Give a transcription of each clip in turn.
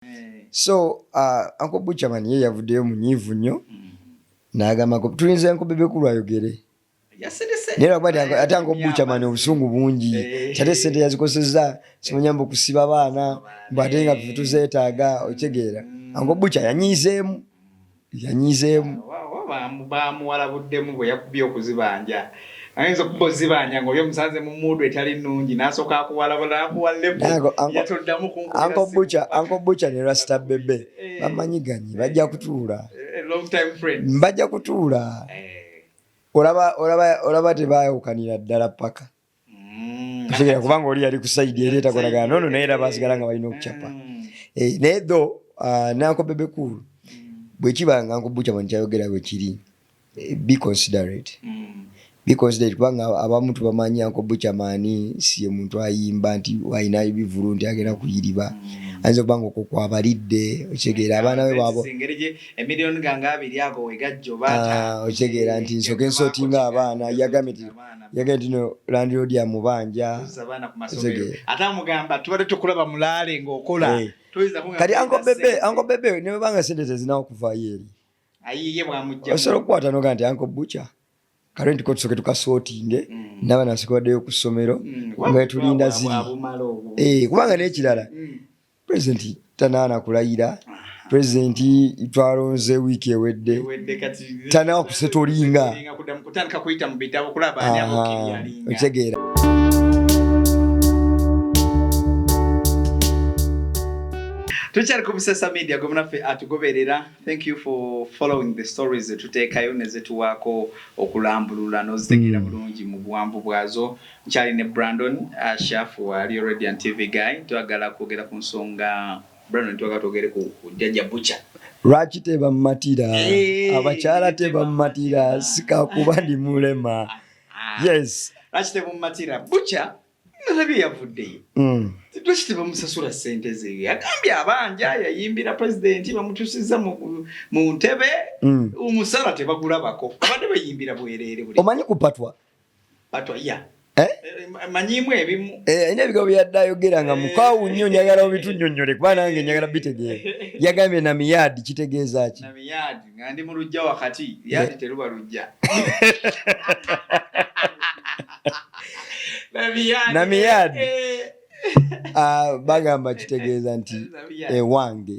eh. so uh, anko buchaman ye yavuddeyo munyiivu nnyo mm. nagamba tulinza nko bebekulu ayogere naye lwakuba ate anko buchaman obusungu bungi eh. ate sente yazikozeseza simunyamba okusiba abaana mbwate nga tuzetaaga okitegeera mm. anko bucha yanyiizeemu yanyizeemu. Baamuwalabuddemu bwe yakubye okuzibanja. Ayinza okuba ozibanja ng'oli omusanze mu muudu etali nnungi n'asooka akuwalabula n'akuwa lepo nga toddamu kunkugira Anko Bucha ne Rasta Bebe eh. bamanyiganye bajja kutuula. Eh, bajja kutuula. Eh. Olaba tebaayawukanira ddala ppaka. mm. ategera kubanga oli yali kusaidi era etakolagana nono naye era basigala nga balina okucapa mm. eh, naye tho ah, nanko bebekulu mm. bwekiba nga nkubucama nikyayogera bwekiri eh, be considerate be considerate kubanga abamu tubamanyi anko bucamani siye muntu ayimba nti alina ebivulu nti agenda kuyiriba ayinza okuba nga okukwabalidde okitegeera abaana be bwabo ah, okitegeera nti nsoke nsootinga abaana yagambye yagenda tino landiroodi amubanja ate amugamba tubadde tukulaba mulaale ngaokola eh. kati anko bebe anko bebe nebanga sente tezinawo kuvayo eri osobola okukwata noga nti anko buca kale nti kotusoke tukasootinge mm. naba nasika baddeyo ku ssomero mm. nga tulinda ziri eh, kubanga n'ekirala mm. pulezidenti tanaana kulayira pulezidenti twalonze wiiki ewedde tanawa kusetolinga okitegeera tukyali ku busesa media gwe munaffe atugoberera thank you for following the stories zetuteekayo nezetuwaako okulambulula nozitegeera mm. bulungi mu buwanvu bwazo Nkyali ne Brandon Ashaff wa Real Radiant TV guy twagala kwogera ku nsonga Brandon twagala twogere ku Jajja Butcher. Lwaki tebammatira? Eh, Abakyala tebammatira sikakuba ndi mulema. Ah, ah. Yes. Lwaki tebammatira? Butcher nalabye yavuddeyo. Mm. Lwaki tebamusasula ssente ze? Yagambye abanja yayimbira pulezidenti bamutuusizza mu ntebe mm. omusala tebagulabako. Abadde bayimbira bwereere. Omanyi kupatwa? Eh? manyimu ebimu eh, alina ebigambo byeyadde ayogera nga mukwawu nnyo njagala obitunyonyole kuba nange njagala bitegeera yagambye na miyaadi kitegeeza ki ndi mu lujja wakati yaadi eh. teruba lujja na miyaadi ah, bagamba kitegeeza nti ewange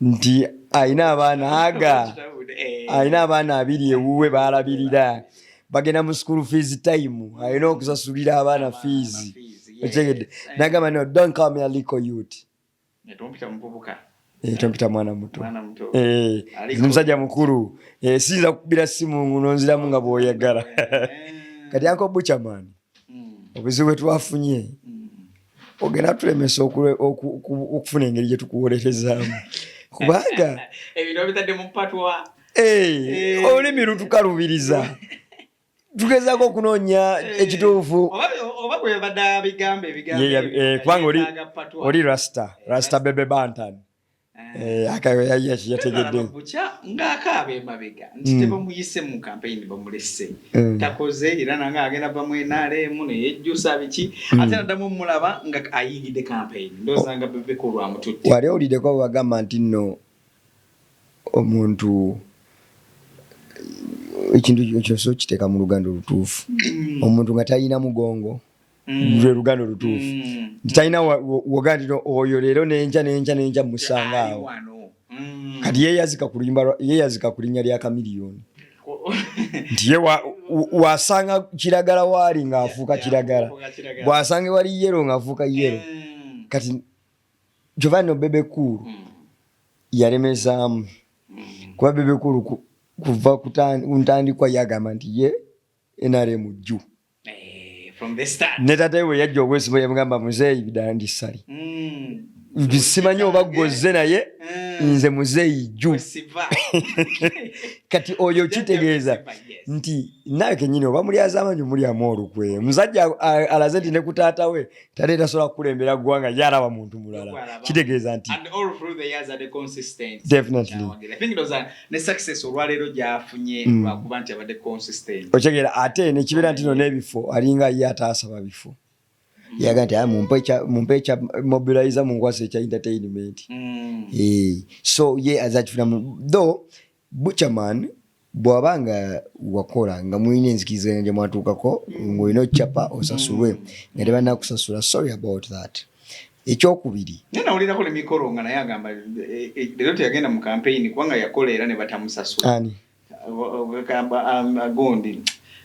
nti alina abaana aga alina abaana abiri ewuwe baalabirira bagenda mu school fees time alina okusasulira abaana fees okyegedde nagamba no don't call me a lico youth Eh, tompita mwana muto eh, ndi musajja mukulu eh, siyinza kukubira simu nonziramu nga bwoyagala kati anko buchaman obuzibu bwetwafunye ogenda tulemesa okufuna engeri gyetukuwolerezaamu kubanga eh, olulimi lutukalubiriza tugezako okunoonya eh, ekituufu eh, kubanga oli rasta rasta bebe bantan Eh, ng'akaaba ng'akaaba emabega nti hmm. tebamuyise mu kampeyini bamulese hmm. takoze era nange agenda va mu nrm neyejjusa biki hmm. ate naddamu omulaba nga ayingidde kampeyini ndooza nga bebeka olwamututte wali owuliddeko wagamba nti nno omuntu ekintu kyosa okiteeka mu luganda olutuufu omuntu nga talina mugongo Mm. lwe luganda olutuufu mm. nti talina wogandira oyo leero nenja nenja nenja musanga awo mm. kati yeyazika ku luyimba yeyazika ku linnya lya kamiliyoni nti ye wasanga kiragala waali ng'afuuka kiragala bwasanga wali yero ng'afuuka yero kati kyova no bebe kuulu yalemezaamu kuba bebe kuulu kuva ku ntandikwa yagamba nti ye nrm juu eh, ne tata we yajja obwesimo yamugamba muzeeyi bidandi sali mm. simanyi oba gozze naye mm. nze muzeeyi jju kati oyo kitegeeza nti nawe kenyini oba mulyazamanyi mulyamu olukwe musajja alaze nti nekutaata we tale tasobola kukulembera ggwanga yaraba muntu mulala kitegeeza nti okyegera mm. ate nekibeera nti no n'ebifo alinga ye ataasaba bifo mm. yaga nti mumpe ekya mobilize munkwasa ekya entertainment mm. eh, so ye azakifunamu though Butcherman bwaba nga wakola nga mulina enzikiriziganya gye mwatuukako ng'olina occapa osasulwe nga tebannakusasula sorry about that ekyokubiri naye nawulirako ne mikolo nga naye agamba eh, eh, leero teyagenda mu kampeyini kubanga yakola era ne batamusasula ani agamba um, agondi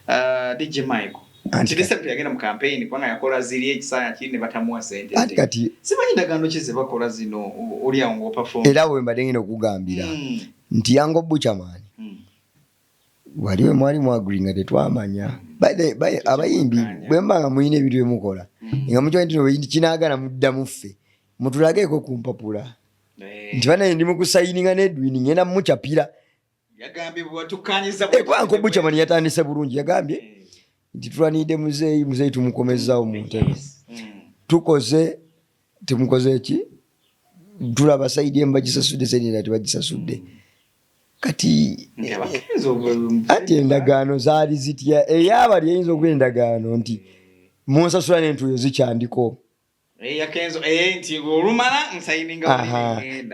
uh, dj michael anti disepti yagenda mu campaign kubanga yakola ziri ekisaya kiri ne batamuwa sente anti kati simanyi ndagaano ki zebakola zino oli awo nga opafomu era bwe mbadde ngenda okugambira mm. nti yango buchaman mm. wali we mwali mwaguli nga tetwamanya mm. abayimbi bwe mba nga mulina ebintu bye mukola mm. nga mukimanyi tino beyindi kinaagala muddamu ffe mutulageeko ku mpapula eh. nti banaye ndi mu kusayininga n'edwini ngenda mucapira yagambye bwewatukkanyiza ekwanko eh, bucamani yatandise bulungi yagambye eh. nti tulanidde muzeeyi muzeeyi tumukomezzawo mu ntebe mm. tukoze temukoze ki tulaba saidi emu bagisasudde saidi endala tebagisasudde mm. kati anti endagaano zaali zitya eyabali eyinza okuba endagaano nti munsasula nentuuyo zikyandiko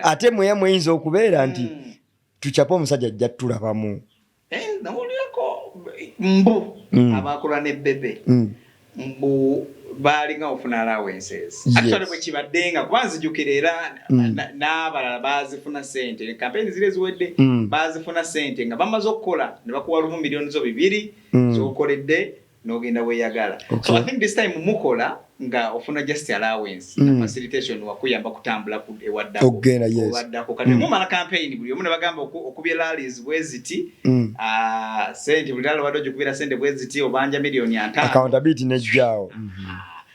ate mweya mweyinza okubeera nti hmm. tucapa omusajja ajja tulabamu eh, nawulirako mbu hmm. abakola ne bebe hmm. mbu baalinga ofuna allowances actually bwe kibadde nga kuba nzijukira era mm. n'abalala baazifuna sente kampeyini ziri eziwedde mm. baazifuna sente nga bamaze okukola ne bakuwa lumu miliyoni zo bibiri mm. zokoledde nogenda weyagala okay. so i think this time mukola nga ofuna just allowance mm. na facilitation wakuyamba kutambula ku ewaddako ogenda yes owaddako kati mm. mumala campaign buli omu nabagamba okubye rallies bweziti mm. uh, sente buli rally wadde okubira sente bweziti obanja million ya ntano accountability nejjawo mm -hmm.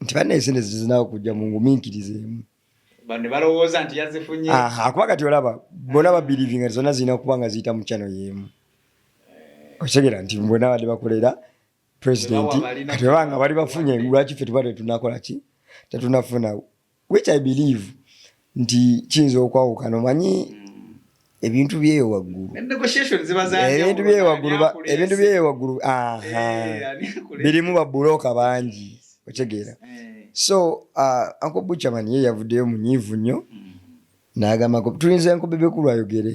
nti banna esente zizinawo kujja mu nguminkiriza emu nebalowooza nti yazifunye akuba kati olaba bona babilivinga ti zonna zirina kuba nga ziyita mu chano yemu eh. okitegera nti bona badde bakolera presidenti kati baba nga bali bafunye lwaki fe tuba tetunakola ki tetunafuna which i believe nti kiyinza okwawukana omanyi ebintu byeyo waggulu ebintu byeyo waggulu ebintu byeyo waggulu birimu babuloka bangi otegeera eh. so uh, anko buchaman ye yavuddeyo munyiivu nnyo mm. n'agambako tulinze anko bebekulu ayogere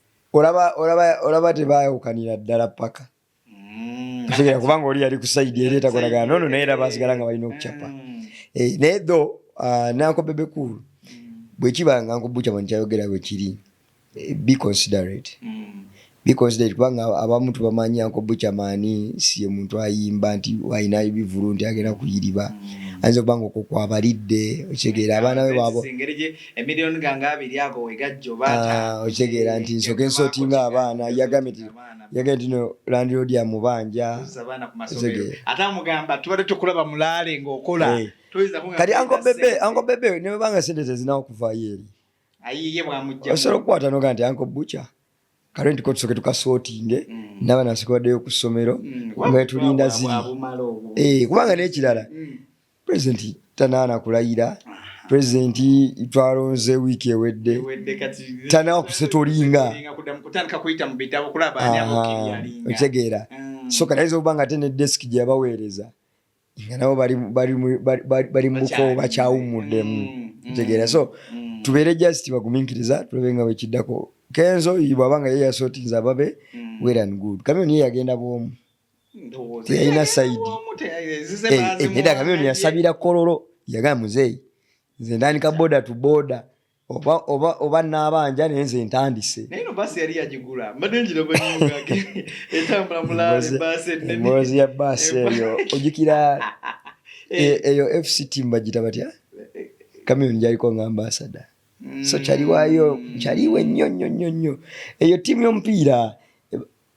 olaba olaba olaba tebaawukanira ddala paka mm. otegera kubanga oli yali kusaidi era etakolagana nono naye era basigala nga balina okucapa mm. eh, naye tho ah, nanko bebekulu mm. bwekiba nga nkubucama ntikyayogera bwekiri eh, be considerate biconsiderate kubanga abamu tubamanyi anko bucamani siye muntu ayimba nti alina ebivulu nti agenda kuyiriba ayinza okubanga okwo kwabalidde okitegeera abaana be babo emiliyoni gange abiri ago wegajja oba ah, okitegeera nti nsoke nsotinga abaana yagambye nti yagambye nti no landiroodi amubanja ate amugamba tubadde tukulaba mulaale ngaokola eh. kati ankobebe ankobebe nebanga sente tezinawo kuvaayo eri osobola okukwata noga nti anko buca kale ntiko tusoke tukasotinge mm. naba nasikobadeyo ku ssomero mm. nga tulinda ziri eh, kubanga nekirala mm. pulezidenti tanaana kulayira pulezidenti twalonze wiiki ewedde tanawa kusetolinga okitegeera mm. so katayinza okuba nga te ne desiki gye yabaweereza nga nabo bali muko bakyawummuddemu mm, mm, kitegeera so tubeere just bagumiikiriza tulabe nga wekiddako kenzo bwaba nga ye yasootinza ababe well and good kamyoni ye yagenda bwomu teyalina saidi neda eh, kameno yasabira kololo yagala muzeeyi nze ntandika boda tu boda oba oba oba nabanja naye nze ntandise emboozi ya baasi eyo ojukira eh. E, eyo fct mbagita batya eh, kamiyoni gyaliko nga ambasada so kyaliwayo mm. kyaliwe nnyo nnyo nnyo nnyo eyo tiimu y'omupiira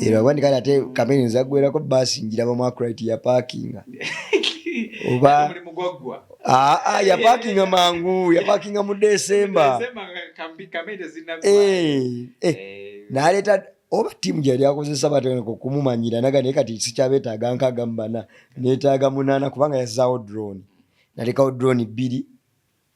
era wandika ate kamere nzagwerako baasi njiraba mwakurit yapakinga oba ah, ah, yapakinga mangu yapakinga mu desemba eh, eh, naleta oba tiimu gyeyali akozesa batandika okumumanyira naga naye kati sikyabetaaga nkaaga mubana netaaga munaana kubanga yazaawo drone nalekawo drone bbiri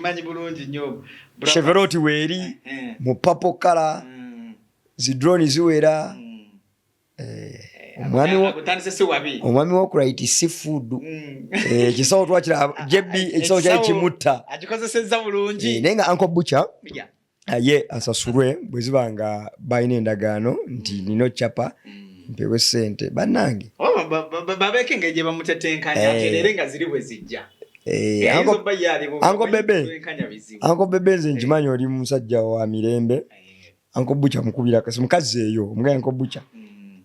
manyi bulungi nyo cheveroti weeri eh, eh. mu papo kala mm. zidroni ziwera mm. eh, omwami wokurit si food mm. ekisawo twakira jb ekisawo kyali kimutta naye nga anko bucha ye asasulwe bwe ziba nga balina endagaano nti mm. nina occapa mm. mpewe sente banange oh, babeke engeri gye bamutetenkanya eh. tere nga ziri bwe zijja eh, eh, anko bebe nze nkimanyi oli musajja wa mirembe anko buca mukubira kasi mukazi eyo omugaya anko buca mm.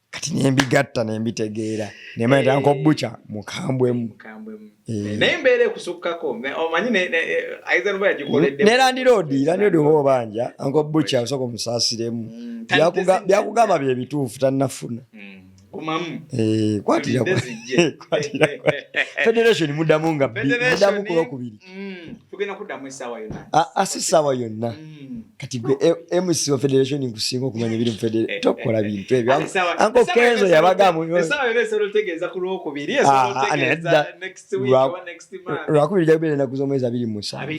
kati nembigatta nembitegeera nemanya tanka eh. obuca mukambwemu eh. naye mbeera ekusukkako omanyi nelandiroodi eh, landiroodi oba obanja anka obuca osooka omusaasiremu mm, byakugamba byebituufu tannafuna mm. kwatira federation mudamu nga mudamu kulwokubiri Mm. tugenda kuddamu essaawa yonna ah, ah, si ssaawa yonna mm. kati gwe eh, mc wa federation nkusinga okumanya ebiri mu federation tokola bintu ebyo anko kenzo yabagamu lwakubiri jakubeera enaku z'omwezi abiri musanvu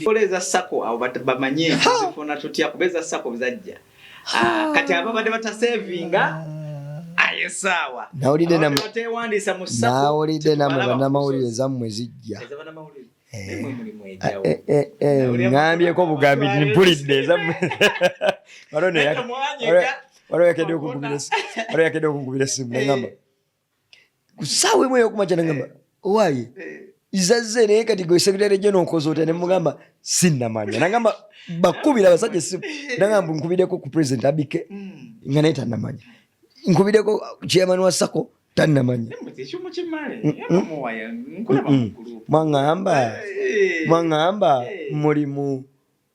Ah, kati ababadde batasevinga ayesaawa nawulidde natewandiisa mu nawulidde namwe banamawulire ezammwe zijja ŋambyeko bugambi mpulidde ezammwe waliwo yakedde okungubira esimu nengamba kusaawa emu eyokumakya nagamba owaaye izazze naye kati gwe sekitale gye nokoza otya nemugamba sinnamanya nagamba bakubira abasajja esimu nagamba nkubireko ku president abike nga naye tanamanya nkubireko chairman wa sako tanamanya mwangamba mwangamba mulimu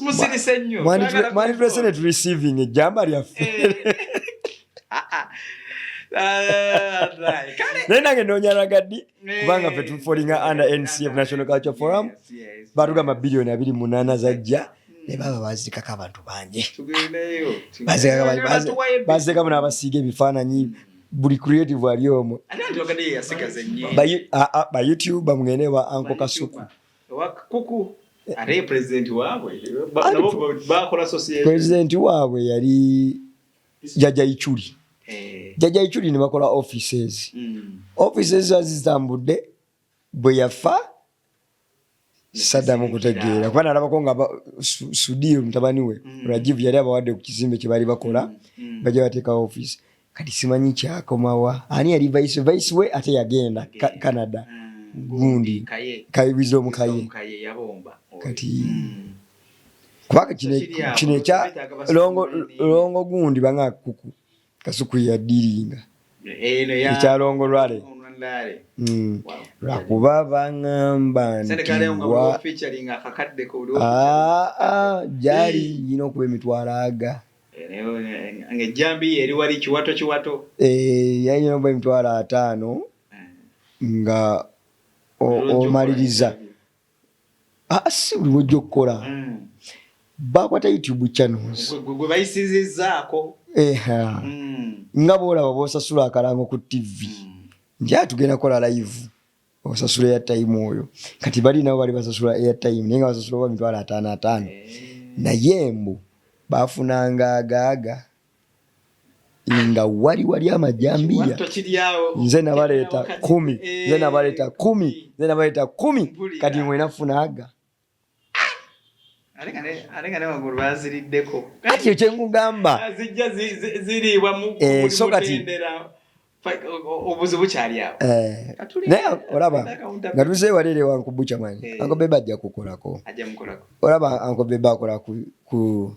musirise nnyo mwanditulese ne tureceiving ejjamba lyaffe eh. ah, ah. Ah, naye nange nonyaraga ddi eh. kubanga fe tufolinga under ncf national culture forum batugamba biliyoni abiri munaana zajja hmm. ne baba bazikako abantu bangi bazikako n'abasiiga ebifaananyi buli creative ali omu bayoutube bamugende ba anko kasuku ate president waabwe bakola society president waabwe yali jaja ichuli eh. jaja ichuli ne bakola offices mm. offices zazitambudde bwe yafa sadamu kutegeera kuba nalabako nga sudir mutabani we mm. rajiv yali abawadde ku kizimbe kye baali bakola mm. mm. bajja bateekawo office kati simanyi kyakomawa ani yali vice vice we ate yagenda ka, canada mm, gundi kayibiza omukaye kati mm. kubanga kino ekya longo gundi banga kuku kasuku yadiringa ekyalongo lwale Mm. lwakuba baŋamba ntiwa ah, ah, gyali nyina okuba emitwalo aga ng'ejjambiya eri wali kiwato kiwato eh, yalina oba emitwalo ataano eh. nga omaliriza ah, ah, si buli wojja okukola hmm. bakwata youtube channels gwe bayisizizaako eh, hmm. nga boolaba boosasula akalango ku ttivi hmm. nti atugenda ah, kola live osasula airtime oyo kati bali nabo bali basasula airtime naye nga basasula oba mitwalo ataano ataano naye mbu bafunanga agaaga nga wali wali amajambiya nze nabaleeta kumi nze nabaleeta kumi nze nabaleeta kumi kati mwena funaaga kati ekyengugamba zijja ziriibwa so kati obuzibu kyali awo eh, naye olaba nga tuze waleere wankubuca mani eh. ankobeba ajja kukolako olaba ankobeba akola ku